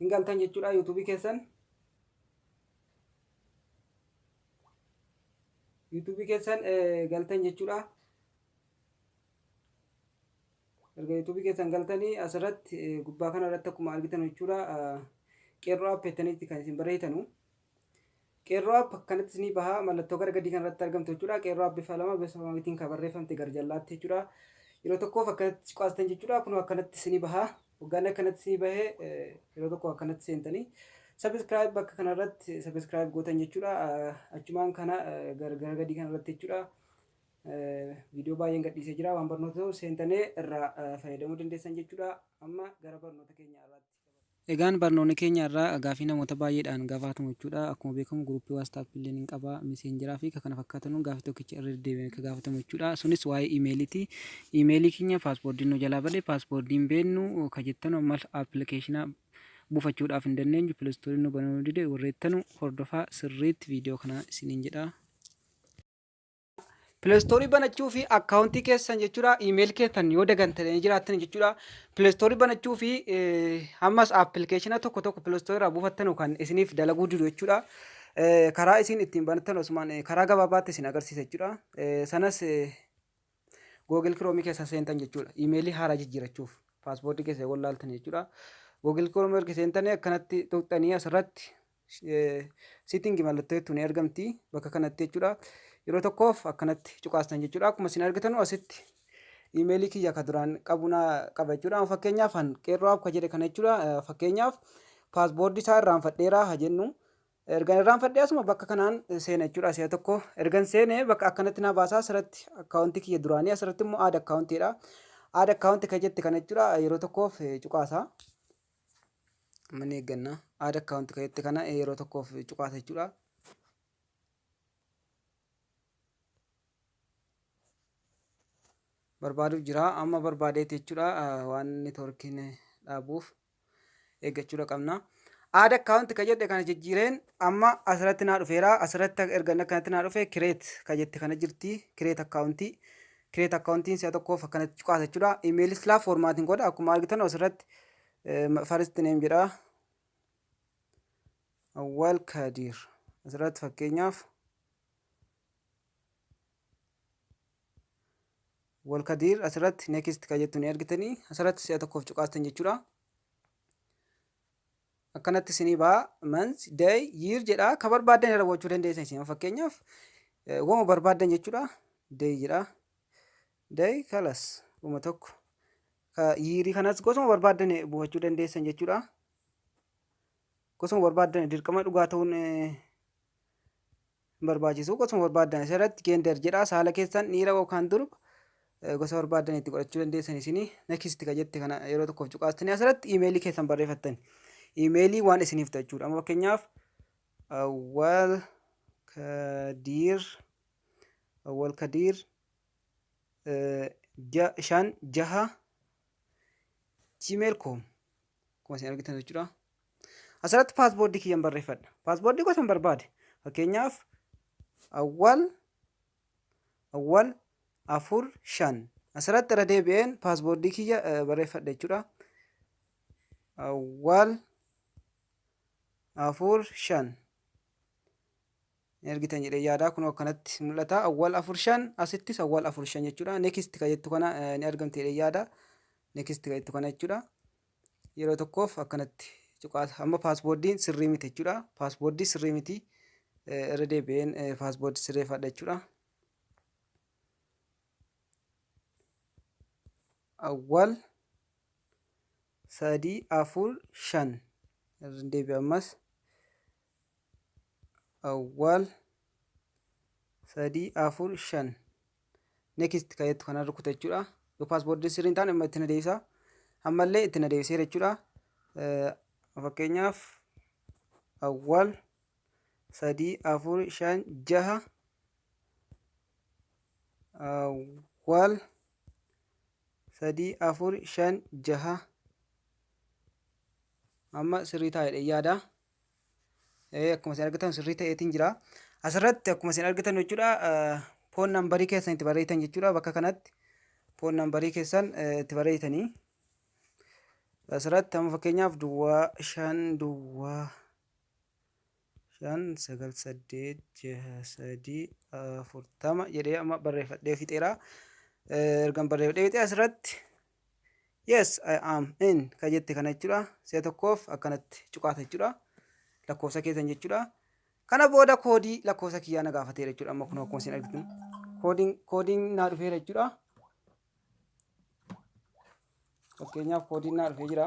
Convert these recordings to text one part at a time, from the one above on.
hin galtan jechuudha yuutuubii keessan yuutuubii keessan galtan jechuudha erga yuutuubii keessan galtanii asirratti gubbaa kana irratti akkuma argitan jechuudha qeerroo app jettanitti kan isin barreessitanu Qeerroo app akkanatti isinii baha mallattoo gara gadii kanarratti argamtu jechuudha qeerroo app bifa lama bifa mamitiin kan barreeffamte gara jallaatti jechuudha yeroo tokkoof akkanatti cuqaastan jechuudha kunoo akkanatti isinii baha hoggaan akkanatti isinii bahe yeroo tokko akkanatti seentanii sabiskiraayib bakka kanarratti sabiskiraayib gootan jechuudha achumaan kana gara gadii kanarratti jechuudha viidiyoo baay'een gadhiisee jira waan barnoota ta'u seentanii irraa fayyadamuu dandeessan jechuudha amma gara barnoota keenya irratti Egaan barnoonni keenya irraa gaafii namoota baay'eedhaan gafaatamu jechuudha. Akkuma beekamu guruupii WhatsApp illee hin qaba, meseenjeraa fi kan kana fakkaatan gaafii tokkicha irra deddeebi'amee akka gaafatamu jechuudha. Sunis waa'ee imeeliiti. Imeelii keenya paaspoordiin nu jalaa bade, paaspoordii hin beeknu ka jettanu ammas appilikeeshina buufachuudhaaf hin dandeenyu, pilistoorii nu banuu nu dide warreettanu hordofaa sirriitti viidiyoo kana isiniin jedha. Pileestoorii banachuu fi akkaawuntii keessan jechuudha iimeeli keessan yoo dagantanii jiraattan jechuudha pileestoorii banachuu fi ammas appilikeeshina tokko tokko pileestoorii irraa buufattanu kan isiniif dalaguu didu jechuudha. Karaa isin ittiin banattan osumaan karaa gabaabaatti isin agarsiisa jechuudha. Sanas Google Chrome keessa seentan jechuudha. Iimeelii haaraa jijjiirachuuf paaspoortii keessa yoo laaltan jechuudha. Google Chrome erga seentanii akkanatti tuqxanii asirratti Sitting mallattoo jettu ni argamti bakka kanatti jechuudha. Yeroo tokkoof akkanatti cuqaastan jechuudha. Akkuma isin argitanu asitti iimeelii kiyya ka duraan qabu na qaba jechuudha. Amma fakkeenyaaf an qeerroo akka jedhe kana jechuudha. Eh, Fakkeenyaaf paaspoortii isaa irraanfadheera ha jennu. Ergan irraanfadhee asuma bakka kanaan seena jechuudha. Si'a tokko ergan seene bakka akkanatti na baasaa asirratti akkaawuntii kiyya duraanii asirratti immoo aada akkaawuntiidha. Aada akkaawuntii ka jette kana jechuudha. Yeroo tokkoof eh, cuqaasaa. Amma ni eegganna. Add account kan jette kana yeroo tokkoof cuqaasa jechuudha. Barbaaduuf jira. Amma barbaadeeti jechuudha waan networkiin dhaabuuf eeggachuudha qabna. Add account kan jette kana jijjiireen amma asirratti naa dhufeera. Asirratti erga akkanatti naa dhufe create kan jette kana jirti. Create account Create account'n si'a tokkoof akkanatti cuqaasa jechuudha. Email silaa formatting godha akkuma argitan asirratti first name jedha. Awwal Kadir asirratti fakkeenyaaf Awwal Kadir asirratti next kan jettu ni argitanii asirratti si'a tokkoof cuqaastan jechuudha. akkanatti isinii ba'a month day year jedha ka barbaaddan irra gochuu dandeessan isin fakkeenyaaf wama barbaaddan jechuudha day jedha day kalas kuma tokko ka yiirii kanas gosuma barbaaddan buufachuu dandeessan jechuudha gosuma barbaaddan dirqama dhugaa ta'uun hin barbaachisu. Gosuma barbaaddan asirratti gender jedhaa saala keessan dhiira yookaan durba eh, gosa barbaaddan itti godhachuu dandeessan isinii next ka jette kana yeroo tokkoof cuqaastanii asirratti iimeelii keessan barreeffattan iimeelii waan isiniif ta'e jechuudha. Amma fakkeenyaaf awwal kadiir awwal kadiir eh, ja- shan jaha gmail.com akkuma isin argitan jechuudha. Asirratti paasboordii kiyyan barreeffadha. Paasboordii gosan barbaade. Fakkeenyaaf awwal awwal afur shan asirratti irra deebi'een paasboordii kiyya barreeffadha jechuudha. Awwal afur shan. hin argitan jedhee yaadaa kunoo akkanatti mul'ata awwal afur shan asittis awwal afur shan jechuudha next ka jettu kana ni argamti jedhee yaada next ka jettu kana jechuudha yeroo tokkoof akkanatti cuqaasa amma paasboordiin sirrii miti jechuudha paasboordii sirrii miti irra deebi'een paasboordii sirreeffadha jechuudha awwal sadii afur shan irra deebi'a ammas awwaal sadii afur shan next ka jettu kana rukuta jechuudha yoo paaspoortiin sirrii hin taane amma itti na deebisa ammallee itti na deebiseera jechuudha fakkeenyaaf awwaal sadii afur shan jaha awwaal sadii afur shan jaha amma sirrii taa'edha yaada. akkuma isin argitan sirrii ta'eetiin jira. Asirratti akkuma isin argitan jechuudha foon nambarii keessan itti barreessitan jechuudha bakka kanatti foon nambarii keessan itti barreessitanii. Asirratti amma fakkeenyaaf duwwaa shan duwwaa shan sagal saddeet jaha sadii afurtama jedhee amma barreeffadhee fixeera. Ergan barreeffadhee fixee asirratti yes I am in ka jette kana jechuudha si'a tokkoof akkanatti cuqaata jechuudha lakkoofsa keessan jechuudha kana booda koodii lakkoofsa kiyyaa na gaafateera jechuudha amma kun akkuma isin argitan koodiin koodiin naa dhufeera jechuudha fakkeenyaaf koodiin naa dhufee jira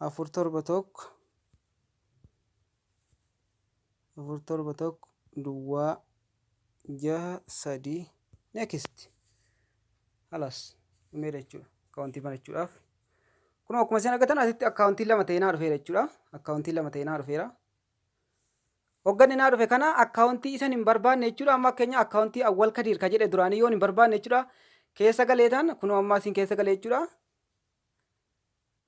4 7 1 4 7 1 duwwaa 6 3 next halas dhumee jechuudha akkaawuntii banachuudhaaf kun akkuma isin argatan asitti akkaawuntii lama ta'ee naa dhufeera jechuudha akkaawuntii lama ta'ee naa dhufeera hogganni naa dhufe kana akkaawuntii isan hin barbaanne jechuudha amma keenya akkaawuntii awwal kadiir ka jedhe duraanii yoon hin barbaanne jechuudha keessa galeetan kunoo ammaa isin keessa galee jechuudha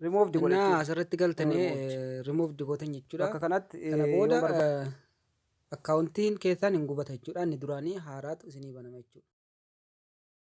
Remove di godha Innaa jechuudha. asirratti galtanii Removed. removed gootan jechuudha. Bakka kanatti eh, Kana yoo booda barbaaddan. eh, akkaawuntiin keessaan hin gubata jechuudha. Inni duraanii haaraatu isinii banama jechuudha.